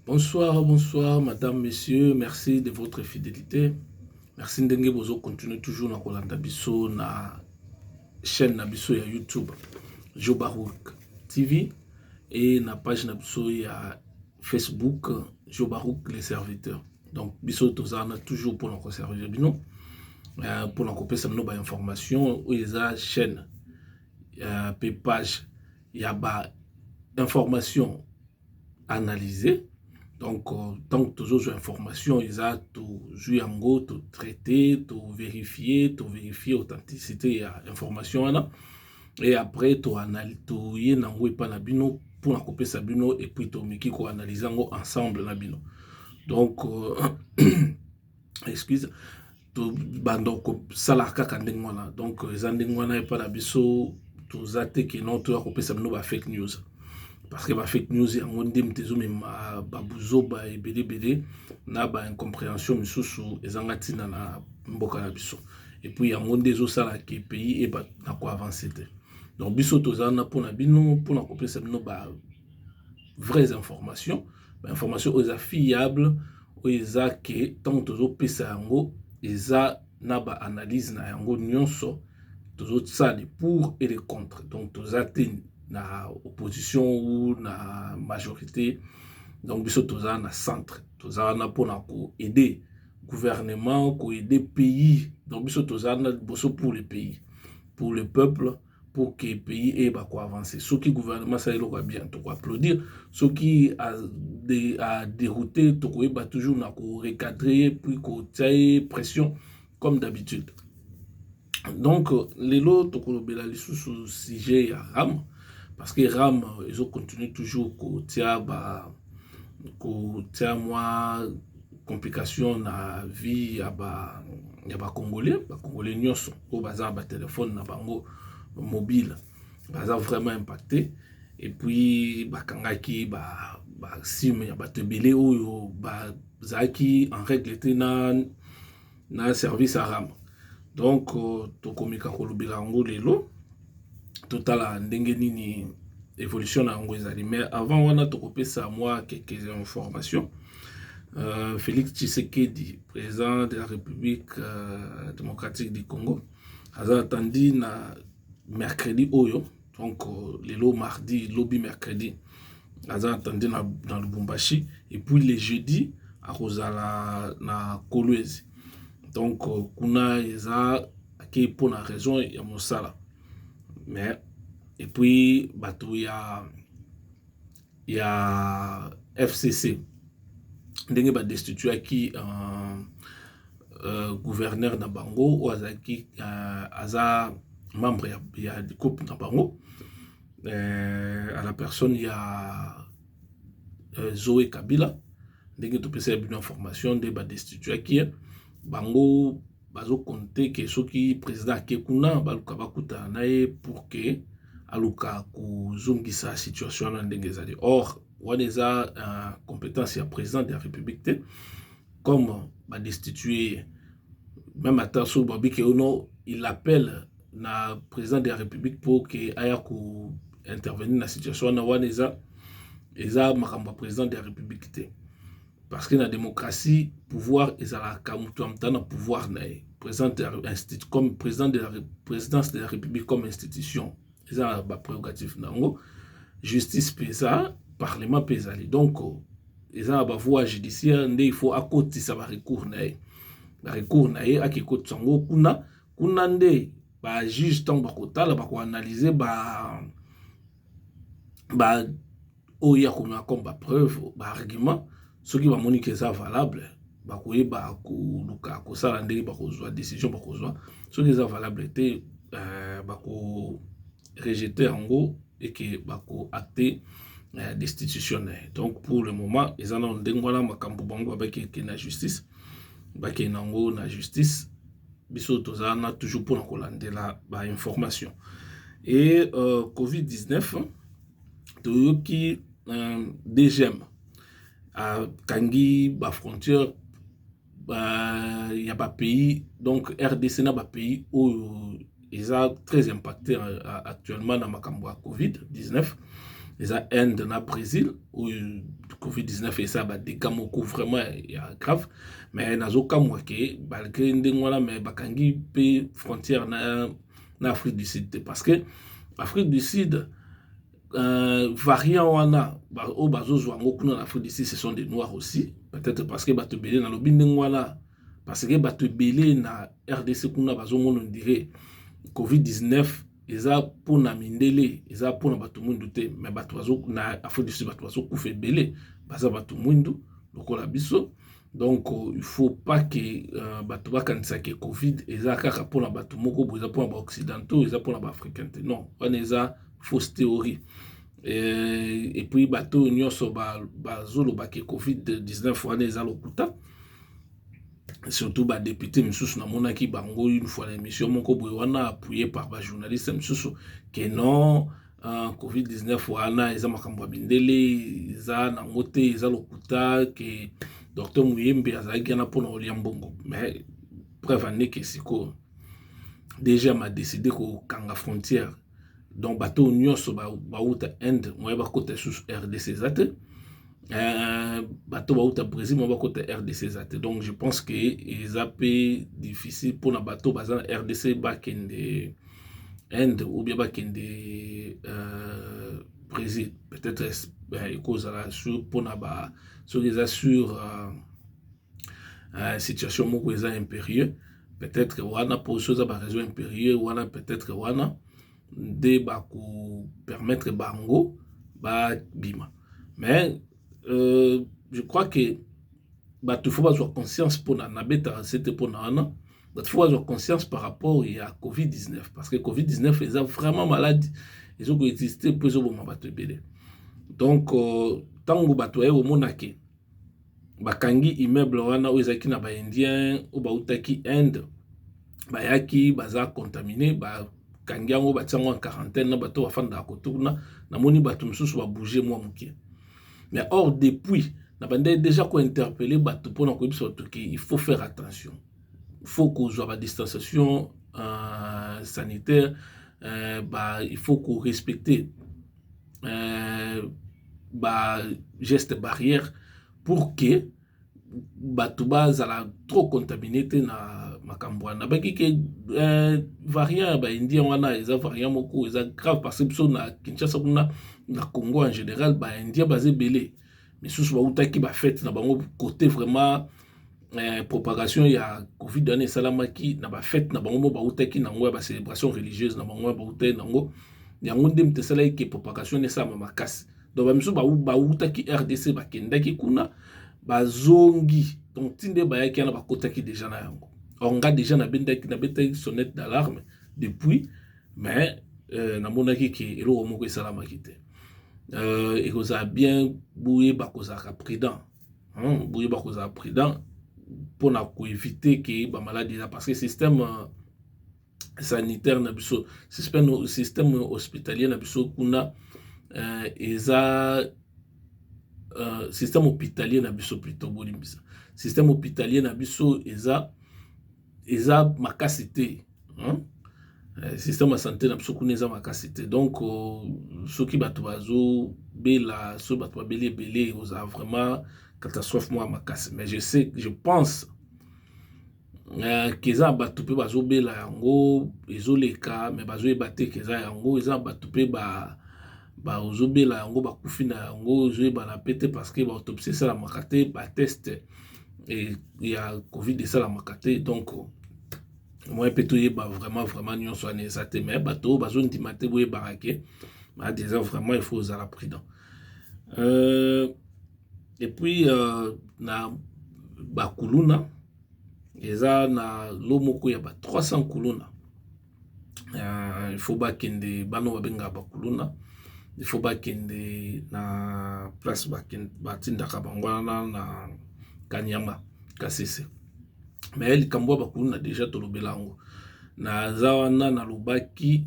Bonsoir, bonsoir madame, monsieur, merci de votre fidelite, merci ndenge bozo continuer toujours na kolanda biso na chaîne na biso ya YouTube Joe Barouk TV et na page na biso ya Facebook Joe Barouk les serviteurs. Donc biso toza na toujours pour na ko servir bino euh, pour na kopesa bino ba information oyo eza chaîne euh, pe page ya ba information analyse donc ntango euh, tozozwa information eza tozwi yango totraite toverifie toverifie authenticité ya information wana e après toye na yango epai na bino mpona kopesa bino epuis tomeki koanalyse yango ensemble na bino donc euh, excuse tobanda kosala kaka ndenge wana donc eza ndenge wana epai na biso toza te keno toya kopesa bino ba fake news parce que ba fake news yango nde moto ezomema babuzoba ebele ebele na ba incomprehension mosusu ezanga ntina na mboka na biso epuis yango nde ezosala ke pays eba na koavanse te donc biso toza na mpona bino mpona kopesa bino ba vraies informations ba information oyo eza fiable oyo eza ke ntango tozopesa yango eza na ba analyse na yango nyonso tozosala le pour et le contre donc toza te na opposition ou na majorité donc biso toza na centre toza wana mpona koaide gouvernement koaide pays donc biso toza na liboso pour le pays pour le peuple pour que pays eyeba ko avancer soki gouvernement asala eloko ya bien toko applaudir soki aderoute tokoyeba toujours na ko recadre ye puis kotia ye pression comme d'habitude donc lelo tokolobela lisusu sujet ya ram parce que ram ezocontinue toujours kotia ba kotia mwa complication na vie ya ba ya ba congolais ba congolais nyonso oyo baza na ba telefone na bango mobile baza vraiment impacte et puis bakangaki ba ba sim ya bato ebele oyo bazalaki en règle te na na service aram donc euh, tokomeka kolobela yango lelo totala ndenge nini évolution na yango ezali mais avant wana tokopesa mwa quelques informations euh, félix tshisekedi président de la république euh, démocratique du congo aza atandi na mercredi oyo donc euh, lelo mardi lobi mercredi aza attendu na, na lubumbashi et puis le jeudi akozala na kolwezi donc euh, kuna eza ake mpo na raison ya mosala mais et puis bato ya ya fcc ndenge ba destituaki uh, uh, gouverneur na bango oyo azalaki uh, aza membre ya, ya coupe na bango uh, à la personne ya uh, Zoe Kabila ndenge topesaki bino information nde ba destituaki bango bazo compte ke soki president ake kuna baluka bakutana na ye pour ke aluka kozongisa situation wana ndenge ezali or wana eza uh, compétence ya président de la république te comme badestitue ye même ata soki babike yo no il appelle na président de la république mpo ke aya ko intervenir na situation wana wana eza eza makambo ya président de la république te Parce que na democratie pouvoir ezalaka mutu ya mutu aza na pouvoir na ye president ya institut comme president de la presidence de la republique comme institution eza na ba prerogatives na yango justice mpe eza parlement mpe ezali donc eza na ba voies judiciaire nde il faut akotisa ba recours na ye ba recours na ye ake kotisa yango kuna kuna nde ba juge ntango bakotala bakoanalyse ba ba oyo ya komema comme ba preuve ba argument soki bamoni ke eza valable bakoyeba koluka kosala ndenge bakozwa decision bakozwa soki eza valable te euh, bako rejete yango eke bako acte euh, destitution na ye donc pour le moment eza nano ndenge wana makambo bango babaki eke na justice bakende yango na justice biso toza wana toujours mpona kolandela bainformation e uh, covid-19 toyoki uh, dgm akangi uh, bafrontière uh, ya bapays donc rdc na bapays oyo eza très impacte actuellement na makambo ya covid 19 eza inde na brésil oyo covid 19 eza badega moko vraiment ya grave mais nazokamwa ke malgré ndenge wana mais bakangi mpe frontière na, na afrique du sud te parce que afrique du sud euh, variant wana oyo bazozwa yango kuna na afrique du sud ce sont des noirs aussi peut-être parce que bato ebele nalobi ndenge wana parce que bato ebele na rdc kuna bazomona ondire covid-19 eza mpo na mindele eza mpo na bato mwindu te me bato na afrique du sud bato bazokufa ebele baza bato mwindu lokola biso donc euh, il faut pas que euh, bato bakanisa ke covid eza kaka mpo na bato moko boye eza mpo na baoccidentaux eza mpo na baafricain te non wana eza fausse théorie et puis bato oyo nyonso bazoloba ke covid-19 wana eza lokuta surtout badepute misusu namonaki bango une fois na émission moko boye wana appuye par bajournaliste misusu ke non uh, covid-19 wana eza makambo ya mindele eza nango te eza lokuta ke docteur muyembe azalaki wana mpona kolia mbongo mais preuve aneke sikoyo dg ama décide kokanga frontière donc bato oyo nyonso bauta inde moye bakota lisusu rdc eza te euh, bato bauta brésil moye bakota rdc eza te donc je pense que eza mpe difficile mpona bato baza na rdc bakende inde ou bien bakende euh, brésil peut-être ekozala sur mpona ba soki eza sur euh, uh, situation moko eza impérieux peut-être wana mpo so eza baraison impérieux wana peut-être wana nde bakopermettre bango babima mais euh, je crois que bato fo bazwa conscience mpona nabetaka sete mpona wana bato fo bazwa conscience par rapport ya covid-19 parce que covid-19 eza vraiment maladi ezokoexiste mpo ezoboma bato ebele donc euh, ntango bato baye komona ke bakangi immeuble wana oyo ezalaki na ba indien oyo bawutaki inde bayaki baza contamine bakangi yango batie yango na quarantaine na bato oyo bafandaka kote kuna namoni bato mosusu ba bouge mua muke mais or depuis na bandaki dejà ko interpelle bato mpona koyebisa bato ke il faut faire attention faut kozua ba distanciation sanitaire il faut ko respecte. euh, ba geste barrière pour que bato bazala trop contamine te na makambo wana nabaki ke euh, variant ya baindien wana eza variant moko eza grave parce biso na kinshasa kuna na congo en général baindien baza ebele misusu bautaki ba fete na bango kote vraiment eh, propagation ya covid wana esalamaki na ba fete na bango mo bautaki na yango ya ba celebration religieuse na bango bautaki na yango yango nde moto esalaki ke propagation wana esalama makasi donc bamisusu bautaki rdc bakendaki kuna bazongi donc ti nde bayaki wana bakotaki deja na yango or nga deja nabendaki nabetaki sonnette d'alarme depuis mais euh, namonaki ke eloko moko esalamaki te euh, ekozala bien boyeba kozalaka prudent hmm, boyeba kozala prudent mpona koevite ke bamaladi eza parce que système euh, sanitaire na biso système, système hospitalier na biso kuna euh, eza euh, système hôpitalier na biso plutôt bolimbisa système hôpitalier na biso eza eza makasi te hein? Eh, système ya sante na biso kuna eza makasi te donc euh, soki bato bazobela soki bato babeli ebele oza vraiment catastrophe moko ya makasi mais je sais je pense euh, keza bato mpe bazobela yango ezoleka mais bazoyeba te keza yango eza bato mpe ba bazobela yango bakufi na yango ezoyebana mpe te parce que baautopisiesalamaka te bateste et il y a covid de ça la makate donc moi peut toyeba vraiment vraiment nyonso wana eza te mais bato oyo bazondima te boyebaka ke badeza vraiment il faut ozala prudent euh, et puis euh, na bakuluna eza na lo moko ya ba 300 kuluna il faut bakende bana oyo babengaka bakuluna il faut bakende na place batindaka bango wana na kaniama kasese mais likambo ya bakuluna deja tolobela yango naza wana nalobaki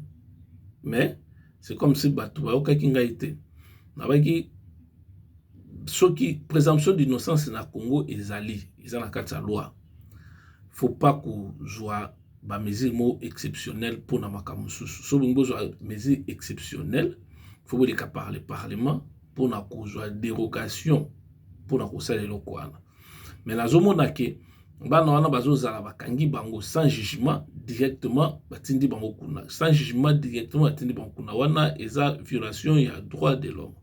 mais c'est comme si bato bayokaki ngai te nabaki soki présomption d'innocence na congo ezali eza na kati ya loi faut pas kozwa ba mesure moko exceptionnel mpo na makambo mosusu so bolingi bozwa mesure exceptionnel fo boleka par le parlement mpo na kozwa derogation mpo na kosala eloko wana me nazomona ke bana wana bazozala bakangi bango sans jugement directement batindi bango kuna sans jugement directement batindi bango kuna wana eza violation ya droit de l'homme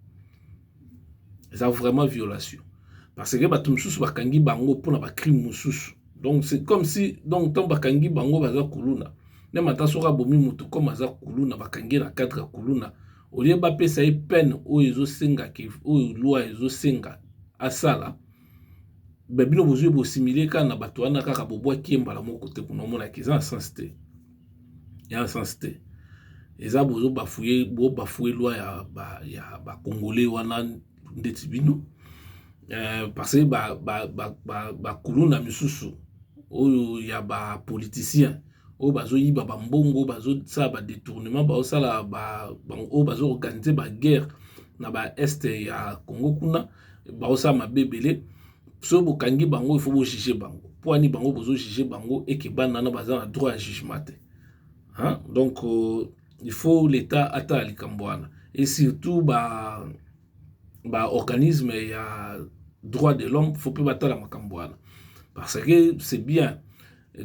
eza vraiment violation parce que bato mosusu bakangi bango mpona bacrime mosusu donc c'est comme si donc ntango bakangi bango baza kuluna meme ata soki abomi moto comme aza kuluna bakangi na cadre ya kuluna olie bapesa ye peine oyo ezosenga oyo loi ezosenga asala babino bozwi bosimile kaka na bato wana kaka bobwaki ye mbala moko te kuna omonaki eza na sense te ya sens te eza bozo bafouye bo bafouye loi ya ba ya ba congolais wana ndeti bino euh, parce que ba ba ba ba, ba kuluna misusu oyo ya ba politiciens oyo bazoyiba bambongo bazosala badetournement bazosala oyo bazoorganize baguerre na baeste ya congo kuna baosala mabe ebele soki bokangi bango il faut bo juger bango mpo ani bango bozo juger bango eke bana wana baza na droit ya jugement te hein? donc euh, il faut l'état atala likambo wana et surtout ba ba organisme ya droit de l'homme faut mpe batala makambo wana parce que c'est bien euh,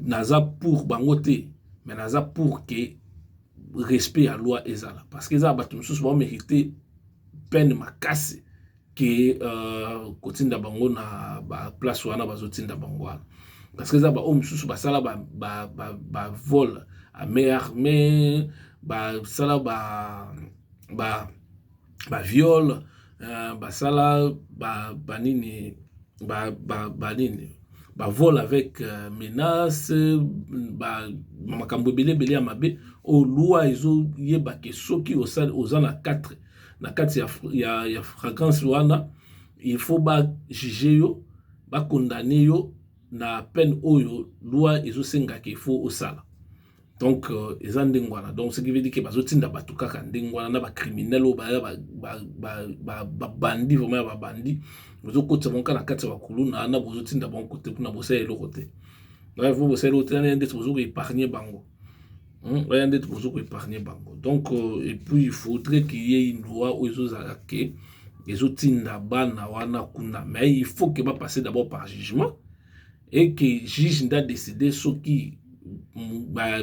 naza pour bango te mais naza pour que respect ya loi ezala parce que eza bato mosusu baomérite peine makasi ke uh, kotinda bango na baplace wana bazotinda bango wana parce que eza baoyo mosusu basala bavole ba, ba, ba, ba amer mais basala ba, ba, ba viole uh, basala ba, ba nini ba, ba, ba nini bavole avec uh, menace ba, makambo ebele ebele ya mabe oyo loi ezoyeba ke soki oza na 4 na kati ya, ya, ya fragrance wana il faut ba juger yo ba condamner yo na peine oyo loi ezosenga ke faut osala donc euh, eza ndenge wana donc ce qui veut dire ke bazotinda bato kaka ndenge wana na bacriminel oyo baya babandi vraiment ya babandi bozokotisa bango kaka na kati ya bakuluna na bozotinda bango kote kuna bosala eloko te bref bosala eloko te nani ndeti bozokoepargne bango baya nde tokoki ko epargne bango donc et puis il faudrait qu'il y ait une loi oyo ezozala ke ezotinda bana wana kuna mais il faut que ba passer d'abord par jugement et que juge nde adecide soki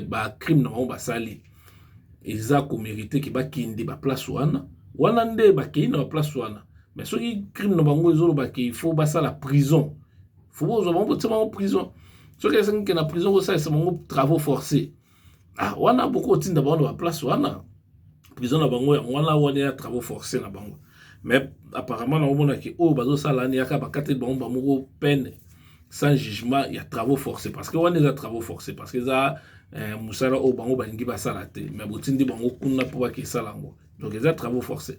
bacrime na bango basali eza komerite ke bakende baplace wana wana nde bakei na baplace wana mais soki crime na bango ezoloba ke il faut basala prison fo bozwa bango botia bango prison soki esengi ke na prison kosalisa bango travaux forcé ah wana boko otinda bango na baplace wana prison na bango yango wana wana ya travaux forcé na bango mais apparemment na omona ke oyo bazosala ani yaka bakateli bango bamoko peine sans jugement ya travaux forcé parce que wana eza travaux forcé parce que eza eh, mosala oyo bango balingi basala te mais botindi bango kuna mpo bakesala yango donc eza travaux forcé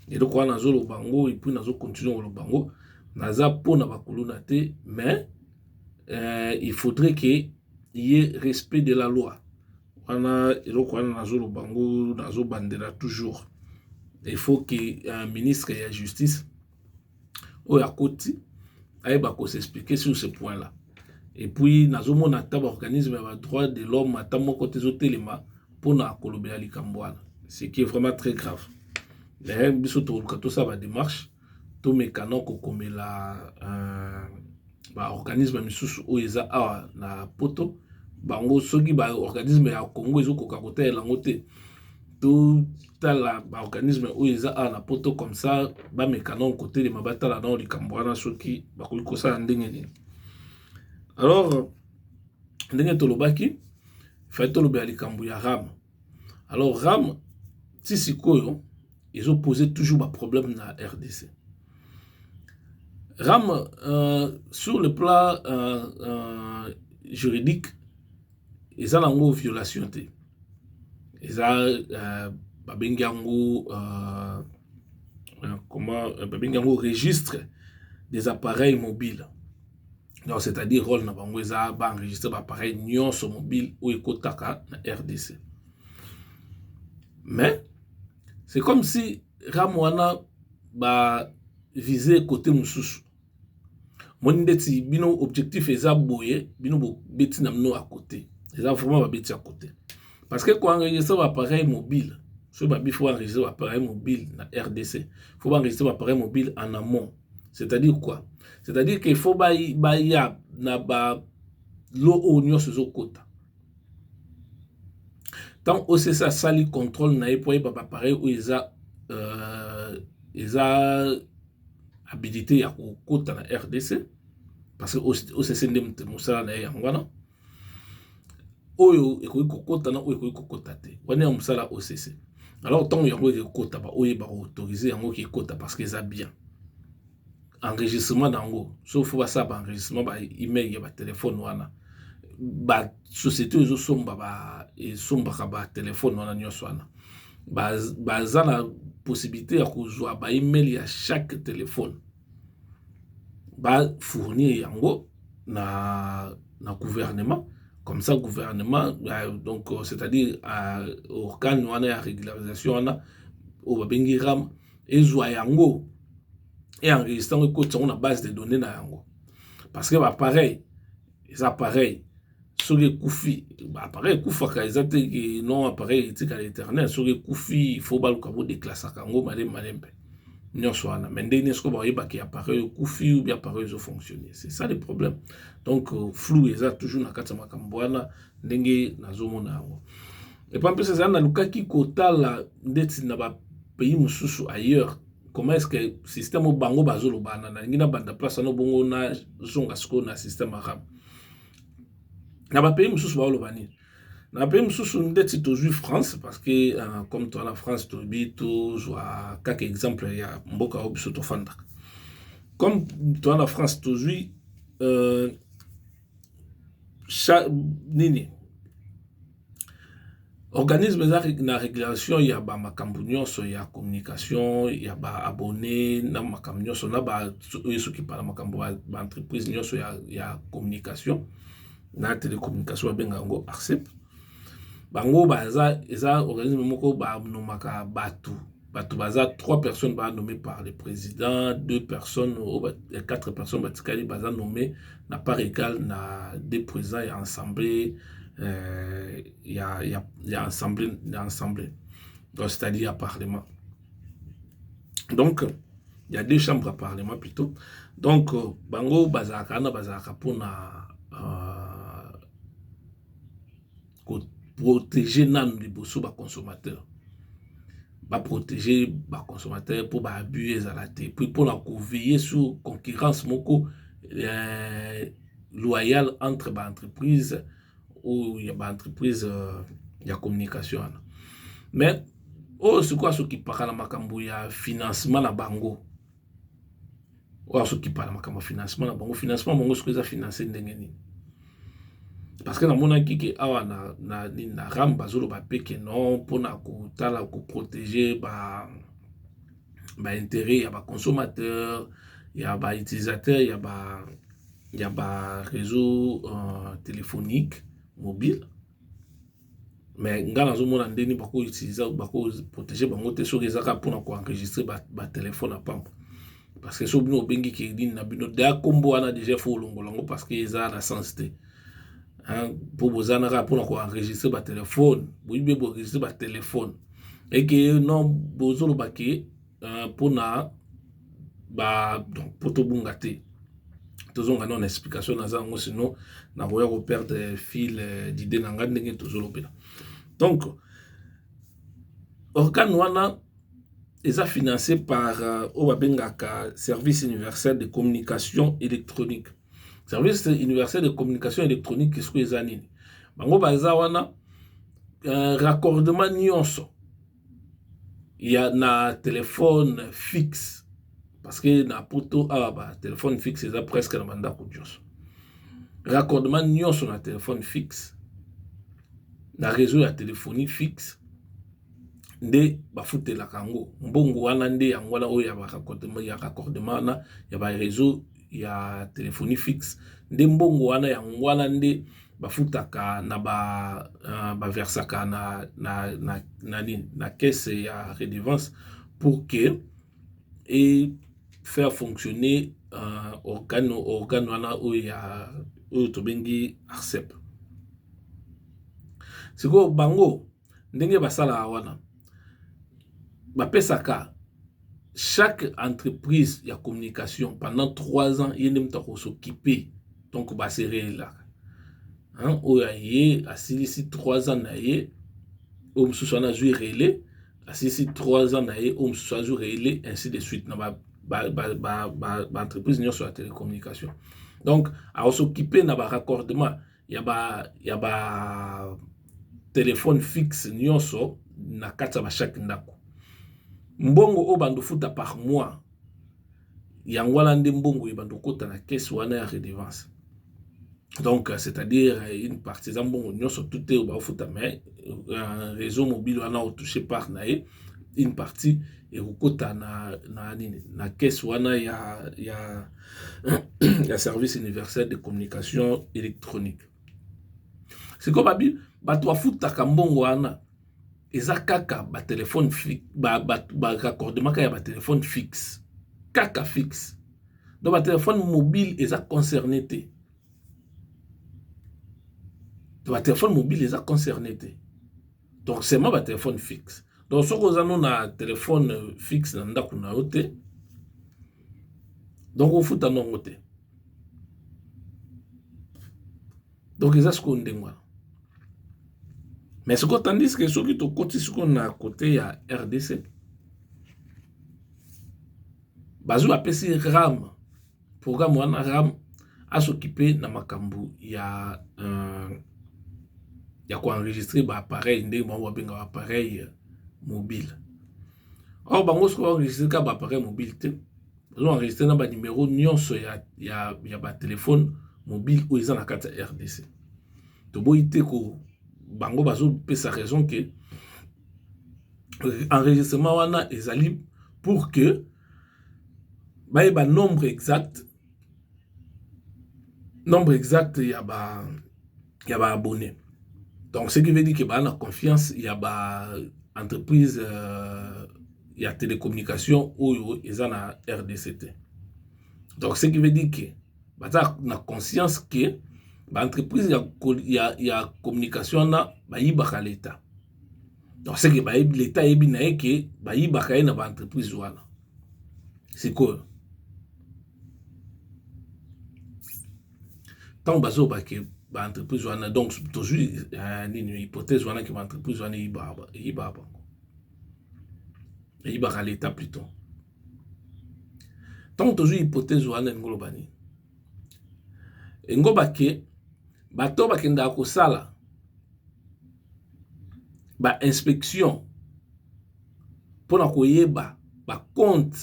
eloko wana nazoloba yango epuis nazocontinue koloba yango naza mpo na bakuluna te mais euh, il faudrait ke ye respect de la loi wana eloko wana nazoloba yango nazobandela toujours il faut ke un ministre ya justice oyo akoti ayeba ko s'expliquer sur ce point là et puis nazomona ata ba organisme ya ba droit de l'homme ata moko te ezotelema mpona kolobela likambo wana ce qui est vraiment très grave mais biso tokoluka tosala ba démarche tomeka na kokomela euh, ba organisme misusu oyo eza awa na poto bango soki ba organisme ya congo ezokoka kotalela yango te totala ba organisme oyo eza awa na poto comme ça bameka nao kotelema batala nao likambo wana soki bakoki kosala ndenge nini alors ndenge tolobaki fai tolobela likambo ya ram alors ram ti sikoyo ezopose toujours baproblème na rdc ram euh, sur le plan euh, euh, juridique eza nango violation te eza uh, babengi yango uh, comment babengi yango registre des appareils mobiles donc c'est-à-dire role na bango eza baenregistre baappareil nyonso mobile oyo ekotaka na rdc mais c'est comme si ram wana ba vise kote mosusu omoni ndeti bino objectif eza boye bino bobeti na bino ya kote eza vraiment babeti ya kote parce que ko enregistre ba appareil mobile soki babi fo ba enregistre ba appareil mobile na rdc fo ba enregistre ba appareil mobile en amont c'est à dire quoi c'est à dire que fo baya na ba lo oyo nyonso ezokota ntango ocs asali contrôle na ye mpo ayeba bapareil oyo eza euh, eza habilite ya kokota na rdc parce que occ nde mosala na ye yango wana oyo ekoki kokota na oyo ekoki kokota te wana ya mosala occ alors ntango yango ekekota baoyo bakoautorize yango kekota parce que eza bien enregistrement na yango soki fo basala baenregistrement ba email ya batelefone wana société oyo ezosomba ba esombaka ba telefone wana nyonso wana baza na possibilité ya kozwa ba email ya chaque telefone bafournir yango na, na gouvernement comme ça gouvernement euh, donc euh, c'est-à-dire euh, organe wana ya régularisation wana oyo babengi ram ezwa yango e enregistre yango ekotisa yango na base de données na yango parce que bapareil eza appareil soki ekufi appareil ekufaka eza te non appareil etikala éternel soki ekufi faut baluka bodeklasaka yango malemi malemi mpe nyonso wana mais ndenge nini soki bayebaki appareil okufi ou bien appareil ezo fonctionner c'est ça le problème donc euh, flou eza toujours na kati ya makambo wana ndenge nazomona yango epa mpesa ezali nalukaki kotala ndeti na bapays mosusu ailleurs comment est-ce que système oyo bango bazolobana nalingi nabanda place wana bongo nazonga sikoyo na système arabe na bapays mosusu baoloba nini na bapays mosusu ndeti tozwi france parce que uh, comme toi na france toyebi tozwa kaka exemple ya mboka oyo biso tofandaka comme toi na france tozwi uh, nini Organisme eza na regulation ya ba makambu nionso ya communication ya ba abonnes na makambu nionso na ba oyo ezo kipe na makambu ya ba entreprises nionso ya communication na telecommunication ba benga yango Arcep bango baza eza organisme moko ba nomaka batu bato baza trois personnes ba nommé par le président deux personnes oyo ba, quatre personnes batikali baza nommé na part égale na deux présidents ya assemblée euh, ya, ya, ya assemblée ya assemblée donc c'est-à-dire ya parlement donc il y a deux chambres ya parlement plutôt donc euh, bango bazalaka wana bazalaka mpona euh, ko proteger nanu liboso ba consommateurs ba proteger ba consommateurs mpo ba abus ezala te puis mpo na ko veiller sur concurrence moko eh, loyale entre ba entreprises oyo ya ba entreprises euh, ya communication wana mais oyo sikoyo asokipaka na makambo ya financement na bango oyo azokipa na makambo ya financement na bango financement bango soki eza finance ndenge nini parce que namonaki ke awa na, na, na ram bazoloba mpe ke non mpona kotala koprotege ba baintérêt ya baconsommateur ya bautilisateur ya ba ya ba réseau euh, téléphonique mobile mais ngai nazomona ndeni bako utiliser bako protéger bango te soki eza kaka mpona koenregistre batelefone ya pamba parce que soki bino obengi keyedini na bino deya nkombo wana deja fo olongola yango parce que eza na sens te mpo boza na kaka mpona koenregistre batelefone boyibi boenregistre batelefone eke non bozoloba ke euh, mpona ba donc mpo tobunga te tozonga nao na explication naza yango sino nakoya koperdre fil euh, d'idée na ngai ndenge tozolobela donc organe wana eza financé par euh, oyo babengaka service universel de communication électronique service universel de communication électronique sikoyo eza nini bango baza wana euh, raccordement nyonso ya na telefone fixe parce que na poto awa ba telefone fixe eza presque na bandako nyonso raccordement nyonso na telefone fixe na réseau ya téléphonie fixe nde bafutelaka yango mbongo wana nde yango wana oyo ya raccordement wana ya ba réseau ya telephone fixe nde mbongo wana yango wana nde bafutaka na ba uh, baversaka na na na na nini na caisse ya redevance pour que et faire fonctionner uh, organe organe wana oyo ya oyo tobengi arcep sikoyo bango ndenge basalaka wana bapesaka chaque entreprise ya communication pendant 3 ans ye nde moto akosokipe donc baserelaka oyo aye asilisi 3 ans na ye oyo mosusu wana azwi relais asilisi 3 ans na ye oyo mosusu azwi relais ainsi de suite na ba baentreprise nyonso ya télécommunication donc akosokipe na baraccordement ya ba ya ba telephone fixe nyonso na kati ya bashaki ndako mbongo oyo bando futa par mois yango wana nde mbongo oyo bando kota na caisse wana ya redevance donc c'est-à-dire une partie eza mbongo nyonso tout te baofuta mais euh, réseau mobile wana otouche par na ye une partie ekokota na, na nini na caisse wana ya, ya ya service universel de communication électronique sikoyo babi bato bafutaka mbongo wana eza kaka batelefone baraccordemaka ba, ba ya batelefone fixe kaka fixe donc batelefone mobile eza concerné te batelefone mobile eza concerné te donc seulement ba telefone fixe donc soki oza no na telefone fixe na ndako na yo te donc ofuta ndongo te donc eza sikoyo ndenge wana mais sikoyo tandis ke soki tokoti sikoyo na kote ya rdc bazwi bapesi rame programme wana ram asokipe na makambo ya uh, ya koenregistre baappareil ndenge bango babenga baappareil mobile or bango soki baenregistre kaka baappareil mobile te bazoenregistre na banimero nyonso ya, ya, ya batelefone mobile oyo eza na kati ya rdc toboyi te ko bango bazopesa raison ke euh, enregistrement wana ezali pour que bayeba nombre exact nombre exact ya ba ya ba abonné donc ce qui veut dire que baa na confiance ya ba entreprise euh, ya télécommunication oyo eza na rdc te donc ce qui veut dire que baza na conscience que baentreprise ya, ya, ya communication wana bayibaka leta donc seke bayebi leta ayebi na ye ke bayibaka ye na baentreprise wana sikoyo ntango bazoba ke baentreprise wana donc tozwi eh, nini hypothèse wana ke baentreprise wana eyibaka bango eyibaka leta pluton ntango tozwi hypothèse wana elingi oloba nini engoba ke bato bakendaka kosala ba inspection pona koyeba ba compte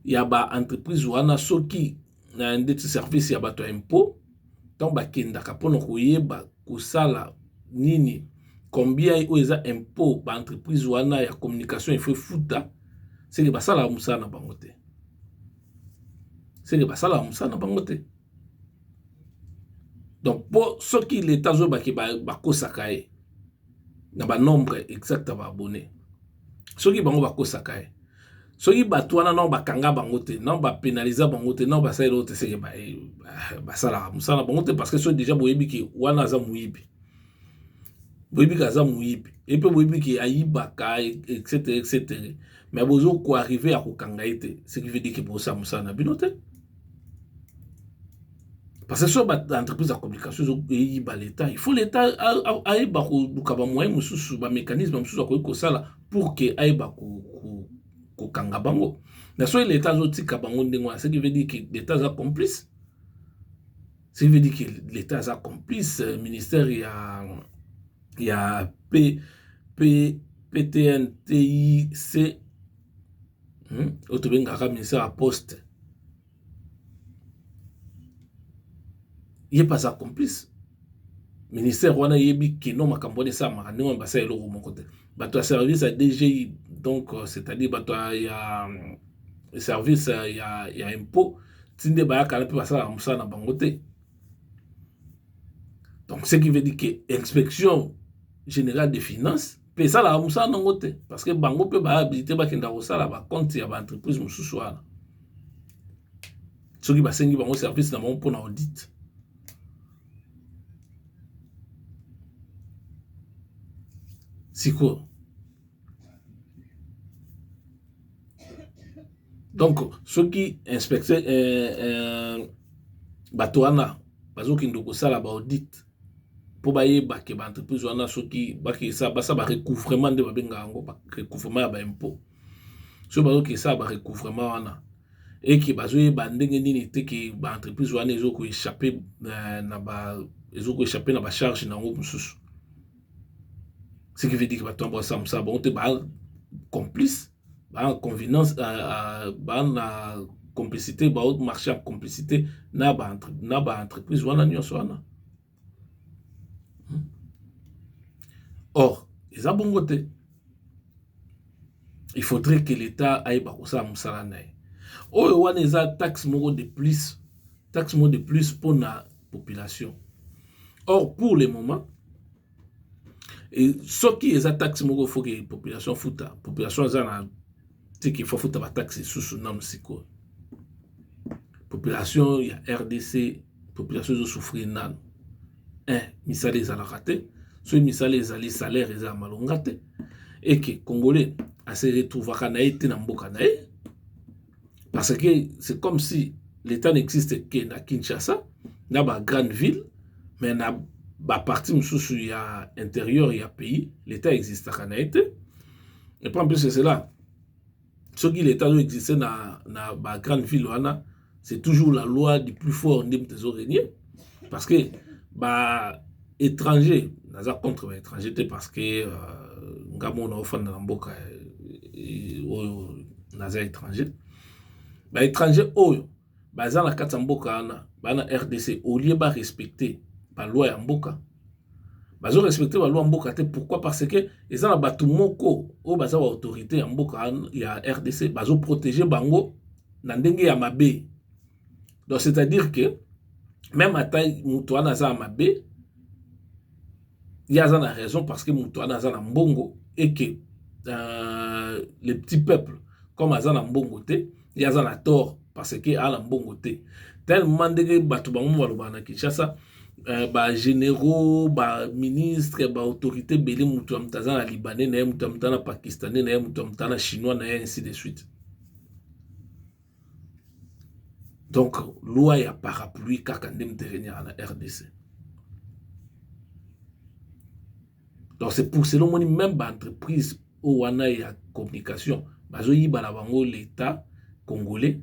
ya ba entreprise wana soki na ndeti service ya bato ya impot ntango bakendaka mpona koyeba kosala nini combien oyo eza impot ba entreprise wana ya communication efo efuta seke basalaka mosala na bango te seke basalaka mosala na bango te. donc mpo soki leta azoyeba ke bakosaka ye na ba nombre exacte ya ba abonne soki bango bakosaka ye soki bato wana nao bakanga bango te nao ba penaliza bango te nao basala eloko te seke basalaka mosala na bango te parce que soki deja boyebi ke wana aza moyibi boyebi ke aza moyibi ye mpe boyebi ke ayibaka etc etc mais bozo ko arrive ya kokanga ye te ce qui veut dire ke bosala mosala na bino te Parce que sur l'entreprise de communication, il faut l'État. Il faut l'État aille bakubuka ba moyen mususu ba mécanisme mususu akoki kosala pour que aille baku ko kanga bango. Na soki l'État azotika bango ndenge wana, ce qui veut dire que l'État aza complice. Ce qui veut dire que l'État aza complice, euh, ministère ya ya P P PTNTIC hmm? oyo tobengaka ministère ya poste ye mpe aza complice ministère wana eyebi kino makambo wana esalamaka ndenge wana basala eloko moko te bato ya service ya dgi donc euh, c'est-à-dire bato ya euh, service euh, ya, ya impôt ti nde bayaka na mpe basalaka mosala na bango te donc ce qui veut dire que inspection générale des finances mpe esalaka mosala nango te parce que bango mpe ba habilite bakenda kosala ba compte ya ba entreprise mosusu wana soki basengi bango service na bango mpo na audit sikoyo donc soki inspecteur euh, euh, bato wana bazokende kosala ba audit mpo bayeba ke ba entreprise wana soki basala ba recouvrement nde babenga yango ba recouvrement ya ba impot soki bazoki kosala ba recouvrement wana eke bazoyeba ndenge nini te ke ba entreprise wana ezo ko echapper euh, na ba ezo ko echapper na ba charge na yango mosusu ce qui veut dire bato yango basala mosala bango te ba complice ba convenance ba na complicite ba marche en complicite na ba entreprise wana nionso wana or eza bongo te il faudrait que l'etat ayeba kosala mosala na ye oyo wana eza taxe moko de plus taxe moko de plus mpona population or pour le moment Et soki eza taxe moko faut que population futa, population eza na tiki faut futa ba taxe susu na musiko. Population ya RDC, population zo souffrir nanu. Eh, misala ezalaka te. Soki misala ezali salaire eza malonga te. Et que congolais a se retrouvaka na ye te na mboka na ye. Parce que c'est comme si l'État n'existe que na Kinshasa, na ba grande ville, mais na ba partie mosusu ya intérieur ya pays, l'État existaka na ye te. Et puis en plus de cela, soki l'État azo existe na, na ba grande ville wana, c'est toujours la loi du plus fort nde moto ezo régner. parce que ba étranger naza contre ba étranger te parce que euh, nga mona ofanda na mboka euh, oyo naza étranger ba étranger oyo baza na kati ya mboka wana bana rdc olie ba respecte baloi ya mboka bazo respecte baloi ya mboka te pourquoi parce que eza na bato moko oyo baza ba autorité ya mboka ya rdc bazo protege bango na ndenge ya mabe donc c'est à dire que même ata moto wana aza ya mabe ye aza na raison parce que moto wana aza na mbongo et que euh, le petit peuple comme aza na mbongo te ye aza na tort parce que aza na mbongo te tellement ndenge bato bango mo balobaka na kinshasa euh, bagénéraux baministre baautorité ebele moto ya moto aza na libanais na ye moto ya moto aza na pakistanais na ye moto ya moto aza na chinois na ye ainsi de suite donc loi ya parapluie kaka nde moto eregnaka na rdc donc c'est pour cela omoni même baentreprise oyo wana ya communication bazoyiba na bango l'état congolais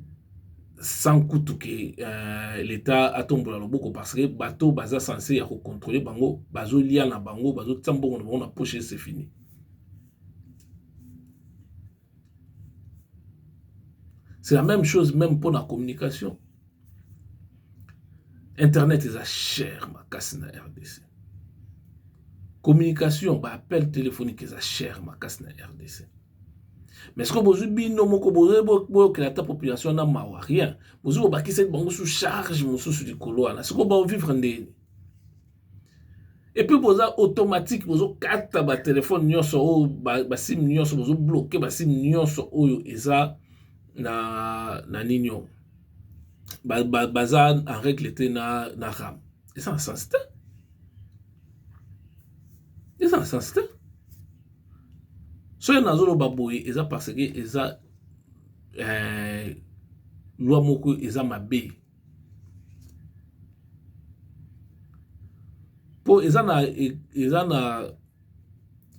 sans kutu ke euh, leta atombola loboko parce que bato baza sense ya kocontrole bango bazolia na bango bazotia mbongo na bango na poche se fini c'est la même chose même mpo na communication internet eza cher makasi na rdc communication ba appel téléphonique eza cher makasi na rdc mais soki bozwi bino moko boyokela ata population na mawa rien bozwi bobakisaki bango su charge mosusu likolo wana sikoyo baovivre ndeni epuis boza automatique bozokata batelefone nyonso oyo basime nyonso bozobloke basime nyonso oyo eza na, na nini oyo baza ba, ba en règle te na, na ram eza na sens te eza na sens te soki nazoloba boye eza parce que eza eh, lwa moko eza mabe mpo eza na eza na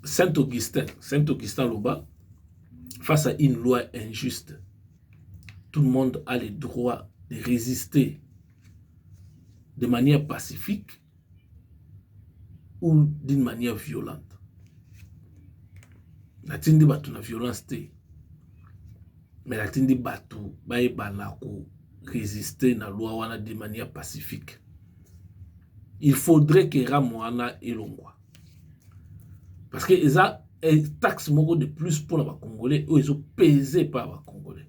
saint augustin saint augustin aloba face à une loi injuste tout le monde a le droit de résister de manière pacifique ou d'une manière violente natindi bato na violence te mais natindi bato bayebana ko résister na loi wana de manière pacifique il faudrait que rame wana elongwa parce que eza taxe moko de plus mpona bacongolais oyo ezopese epa ya bacongolais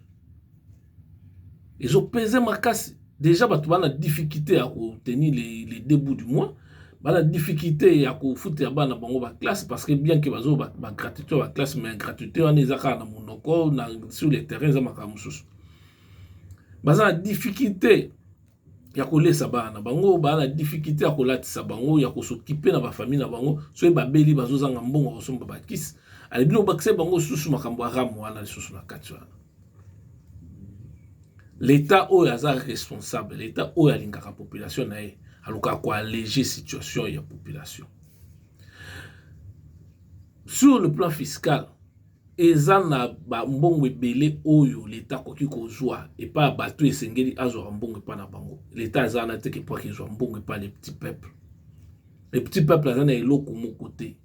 ezo peze makasi deja bato bana difficulte ya ko tenir les, les deux bouts du mois bana difficulte ya kofutela bana bango ba classe parce que bien que bazo ba, ba gratuité ba classe mais gratuité wana eza kaka na monoko na sur le terrain eza makambo mosusu baza na difficulte ya kolesa bana bango baa na difficulté ya kolatisa bango ya kosokipe na bafamille na bango soki babeli bazozanga mbongo ya kosomba bakisi alebino bakisa bango lisusu makambo ya rame wana lisusu na kati wana leta oyo aza responsable leta oyo alingaka population na ye alukaka koallege situation ya population sur le plan fiscal Eza na ba mbongo ebele oyo leta akoki kozua epa ya batu esengeli azuaka mbongo epa na bango leta aza wana te ke po ake zua mbongo epa le petit peuple le petit peuple aza na eloko moko te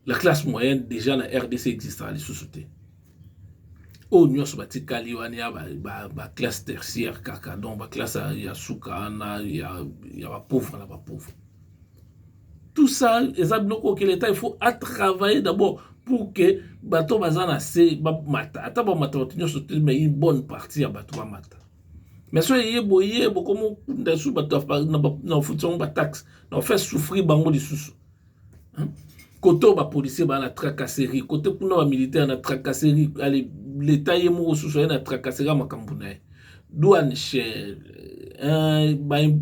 la classe moyenne deja na rdc existaka lisusu te oyo nyonso batikali wana ya ba, ba, ba classe tertiaire kaka donc ba classe ya suka wana ya, ya bapauvre na bapauvre tout ça eza biloko oyo ke leta il faut atravaille d'abord pour que bato baza na se bamata ata bamata bato nyonso te mais une bonne partie ya bato bamata mais so eye boye bokomi okunda lisusu bato na ofuti bango bataxe na ofaire souffrir bango lisusu kote oyo bapolisier baa na tracasserie kote kuna bamilitaire na tracasserie ale leta ye moko susu aye na tracasserie ya makambo na ye douane cher eh,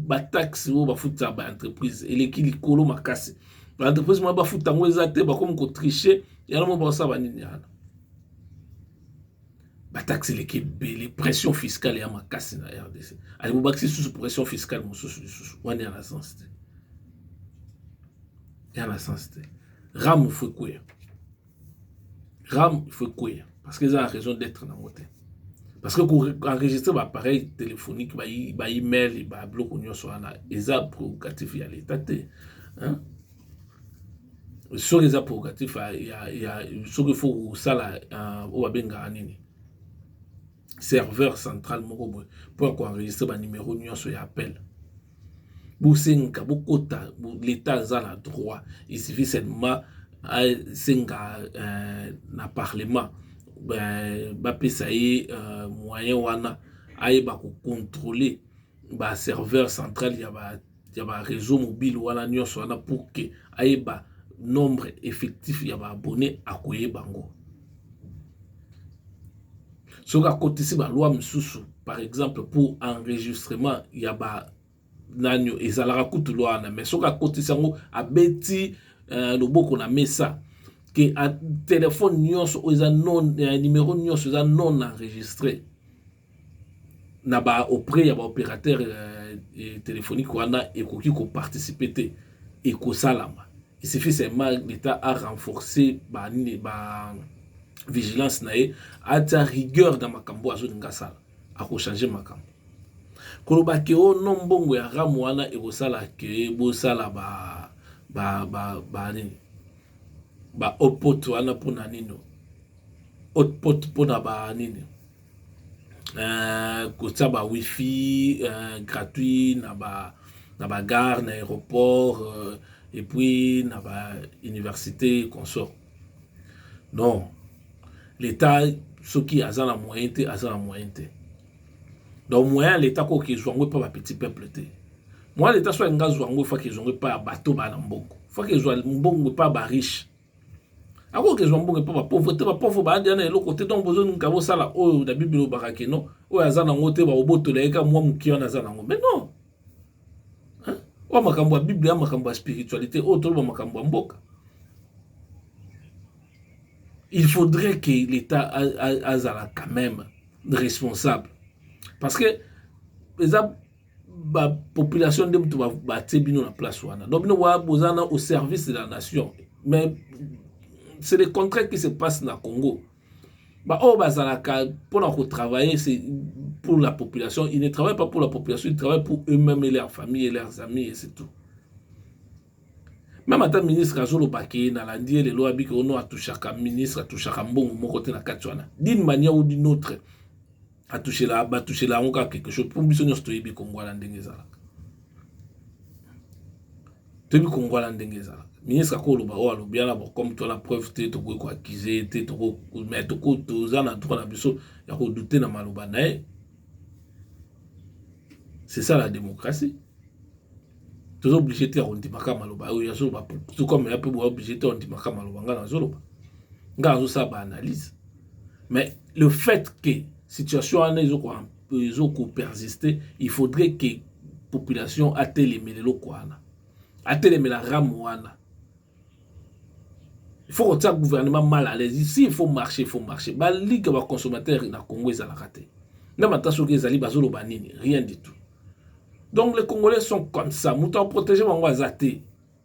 bataxe oyo bafutisa baentreprise eleki likolo makasi baentreprise mwa bafuta yango eza te bakomi kotriche yango mo baosala banini yana bataxe eleki ebele pression fiscale ya makasi na rdc ali bobakisi lisusu pression fiscale mosusu lisusu wana ya na sens te ya na sens te ramu fo ekweya ram il faut ekweya parce que eza na raison d'être nango te parce que koenregistre baappareil téléphonique baemail babiloko nyonso wana eza prérogative ya leta te soki eza prérogative ya soki fo kosala oyo babengaka nini serveur central moko boye mpo ya koenregistre banimero nyonso ya appel bosenga bokota leta aza na droit esifi seulement asenga euh, na parlement euh, bapesa ye euh, moyen wana ayeba kocontrole baserveur central ya ba ya ba réseau mobile wana nyonso wana pour que ayeba nombre effectif ya ba abonné akoyeba yango soki akotisi ba loi mosusu par exemple pour enregistrement ya ba nani ezalaka kutu loi wana mais soki akotisi yango abeti uh, loboko na mesa ke telefone nyonso oyo eza non eh, numero nyonso eza non enregistré na ba auprès ya ba operateur telephonique wana ekoki ko participer te ekosalama il suffit seulement l'etat a renforcer ba nini ba vigilance na ye atia rigueur na makambo oyo azolinga asala ako changer makambo koloba ke oh non mbongo ya RAM wana ekosala ke bosala ba ba ba ba nini ba hotpot wana mpona nini hotpot mpona ba nini euh, kotia ba wifi euh, gratuit na ba na ba gare na aéroport euh, et puis na ba université consort non l'état soki aza na moyen te aza na moyen te donc moyen ya l'état koki ezwa yango epa ba petit peuple te moyen ya l'état soki alingi azwa yango efaki ezwa yango epa ya bato bana mbongo faki ezwa mbongo epa ba riche akoki kozwa mboka mpo bapauvre te bapauvre baadi ana eloko te donc bozolinga bosala oyo na biblia olobaka keno oyo aza nango te bakobotola ye ka mwa moke wana aza nango mais non oyo makambo ya biblia ya makambo ya spiritualité oyo toloba makambo ya mboka il faudrait que l'état azala quand même responsable parce que eza ba population nde moto batie bino na place wana donc bino wa boza na au service de la nation mais c'est le contraire qui se passe na congo baoyo bazalaka mpona kotravailler c'est pour la population ils ne travaillent pas pour la population ils travaillent pour eux-mêmes et leurs familles et leurs amis et c'est tout meme ata ministre azoloba ke nalandi ye lelo abiki ono atushaka ministre atushaka mbongo moko te na kati wana d'une manière ou d'une autre atushela batushela yango kaka quelque chose mpo biso nyonso toyebi kongwala ndenge ezalaka toyebi kongwala ndenge ezalaka ministre akoloba oyo alobi yana comme tola preuve te tokoki koaccuse te mais toza na droit na biso ya kodute na maloba na ye c'est ça la démocratie toza oblige te ya kondimaka maloba oyo azoloba tout comme ya mpe boya oblige te ya kondimaka maloba ngai nazoloba ngai azosala baanalyse mais le fait que situation wana ezo ko persister il faudrait que population atelemela eloko wana atelemela ramu wana il faut kotia gouvernement mal à l'aise ici il faut marcher il faut marcher balika ba consommateur na congo ezalaka te meme ata soki ezali bazoloba nini rien du tout donc les congolais sont comme ça moto akoprotege bango aza te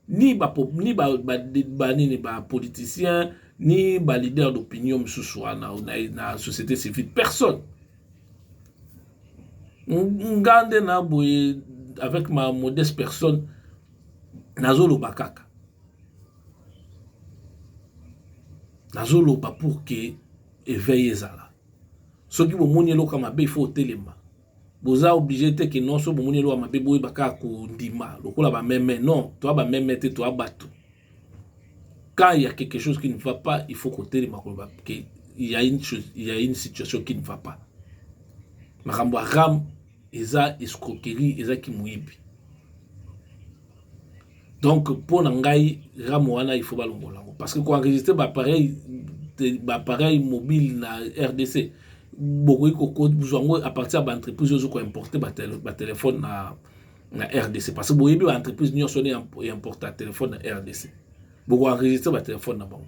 ni ba ni ba ba, ba nini ba politiciens ni ba leader d'opinion mosusu wana na, na société civile personne nga nde na boye avec ma modeste personne nazoloba kaka nazoloba pour que eveil ezala soki bomoni eloko ya mabe ifo otelema boza oblige te que non so bomoni eloko ya mabe boyeba kaka kondima lokola bameme non toa bameme te toa bato quand il y a quelque chose qui ne va pas il faut kotelema koloba que il y a une chose il y a une situation qui ne va pas makambo ya ram eza escroquerie eza kimoyibi donc mpo na ngai rame wana il faut balongola yango parce que koenregistre baappareil baappareil mobile na rdc bokoki kozwa yango à partir ya baentreprise ozo koimporte batelefone na, na rdc parce que boyebi baentreprise nyonso ne importa telefone na rdc bokoenregistre batelefone na bango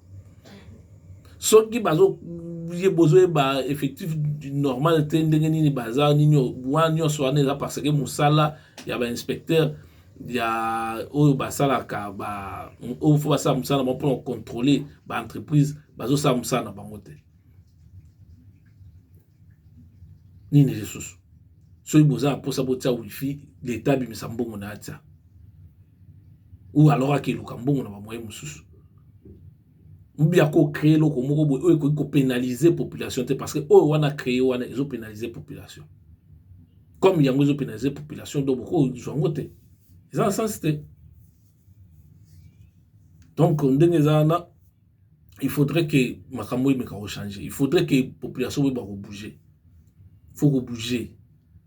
soki bazo ye bozoyeba effectif normal te ndenge nini baza nini wana nyonso wana eza parce que mosala ya bainspecteur ya oyo basalaka ba oyo fo basala mosala bango mpona kocontrole baentreprise bazosala mosala na bango te nini lisusu soki boza na mposa botia wifi leta abimisa mbongo na atia ou alors akeluka mbongo na bamoye mosusu oubia kocree eloko moko boye oyo ekoki kopénalise population te parce que oyo wana cree wana ezopénalise population comme yango ezopénalise population donc bokozwa yango te eza na sense te donc ndenge eza wana il faudrait que makambo emeka ko changer il faudrait que population boyeba ko bouger faut ko bouger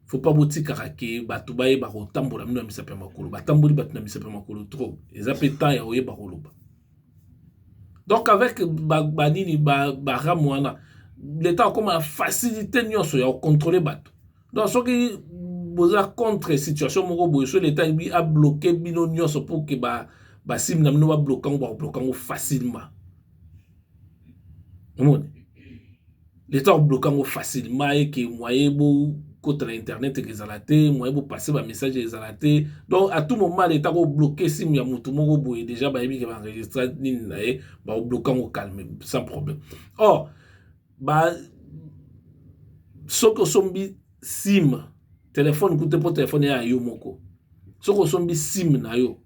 faut pas botikaka ke bato bayeba kotambola bino na misapi ya makolo batamboli bato na misapi ya makolo trop eza mpe temps ya koyeba koloba donc avec banini ba, ba, ba ram wana leta akoma na facilité nyonso ya kocontrole bato donc soki boza contre situation moko boye so leta ebi abloke bino nyonso pour ke ba basimi na bino babloka yango bakobloka yango facilement omoni leta akobloka yango facilement eke moye bokota na internet eke ezala te moye bopasse bamessage ezala te donc à tout moment leta akobloke simu ya motu moko boye déjà bayebi ke baenregistra nini na ye bakobloka yango calme sans problème or oh, ba soki osombi sim telefone kute mpo telefone ya yo moko soki osombi sim na yo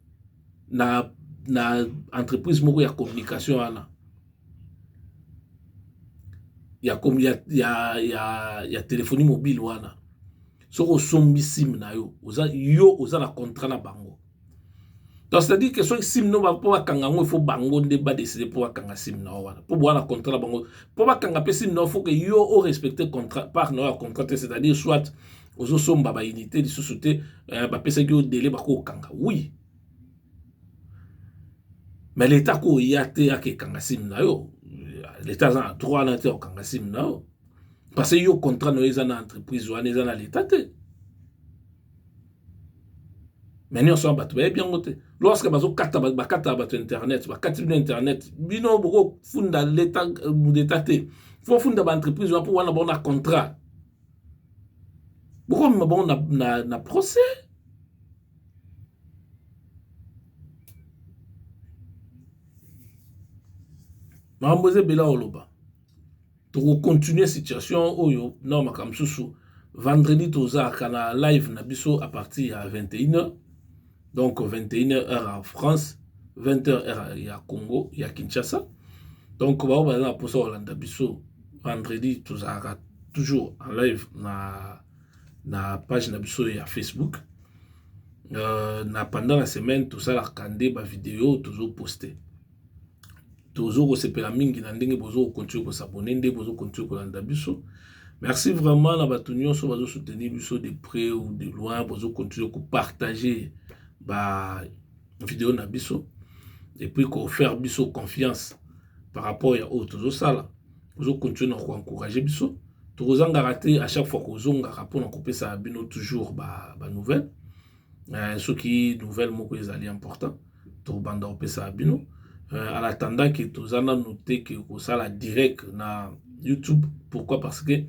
na, na entreprise moko ya communication wana ya, ya, ya, ya, ya telefoni mobile wana soki osombi sim na yo oza yo oza na contrat na bango donc c'est-à-dire que soki sim no mpo bakanga yango ifo bango nde badeside mpo bakanga sim na yo wana mpo bowana contrat na bango mpo bakanga mpe sim na yo foke yo o respecte contrat part na yo ya contrat te c'est-à-dire soit ozosomba baunité lisusu te eh, bapesaki yo dele bakokanga oui mais leta koya te ake ekanga sim na yo leta aza na droit na te okanga sim na yo parce que yo contrat na yo eza na entreprise wana eza na leta te mais nionso wana bato bayebi yango te lorsque bazokata bakataka bato internet bakati bino internet bino bokofunda leta leta te fofunda baentreprise wana mpo wana bango na contrat bokomema bango na, na, na procès makambo eza ebele oloba toko continuer situation oyo na makambo mosusu vendredi tozalaka na live na biso à partir ya 21h donc 21h heure ya france 20h heure ya congo ya kinshasa donc baoyo baza na mposa kolanda biso vendredi tozalaka toujours en live na, na page na biso ya facebook euh, na pendant la semaine tosalaka nde bavideo tozoposte tozo kosepela mingi na ndenge bozo continue ko s'abonner ndenge bozo continue kolanda biso merci vraiment na bato nyonso bazo soutenir biso de près ou de loin bozo continue ko partager ba video na biso et puis ko faire biso confiance par rapport ya oyo tozo sala bozo continue na ko encourager biso tokozangaka te à chaque fois kozongaka mpona kopesa bino toujours ba, ba nouvelles eh, soki nouvelle moko ezali important tobanda kopesa bino eh, en attendant ke toza nanu te ke kosala direct na youtube pourquoi parce que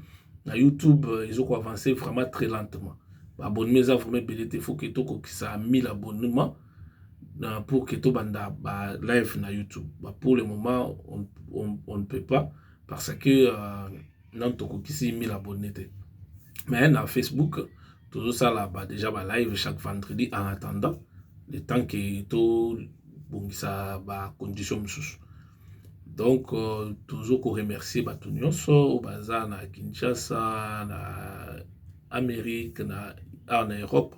na youtube eh, ezoko avance vraiment très lentement baabonnement eza vraiment ebele te faut ke tokokisa 1000 abonnement euh, pour ke tobanda ba live na youtube ba pour le moment on, on, on ne peut pas parce que euh, nanu tokokisi 1000 abonne te mais na facebook tozosala ba déjà ba live chaque vendredi en attendant le temps que tobongisa ba condition mosusu donc euh, tozo ko remercier bato nyonso oyo baza na kinshasa na amérique na awa na europe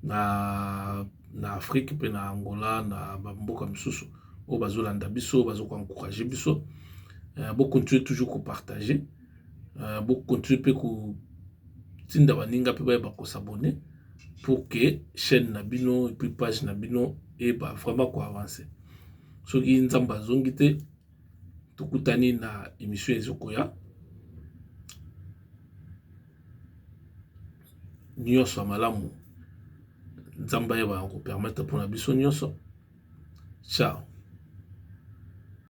na na afrique pe na angola na ba mboka misusu oyo bazo landa biso bazo ko encourager biso euh, bo continuer toujours ko partager euh, bo continuer pe ko tinda baninga pe bayeba ko s'abonner pour que chaîne na bino et puis page na bino eba vraiment ko avancer soki nzambe azongi te tokutani na émission ezokoya nyonso ya malamu nzambe ayebana kopermetre mpona biso nyonso cao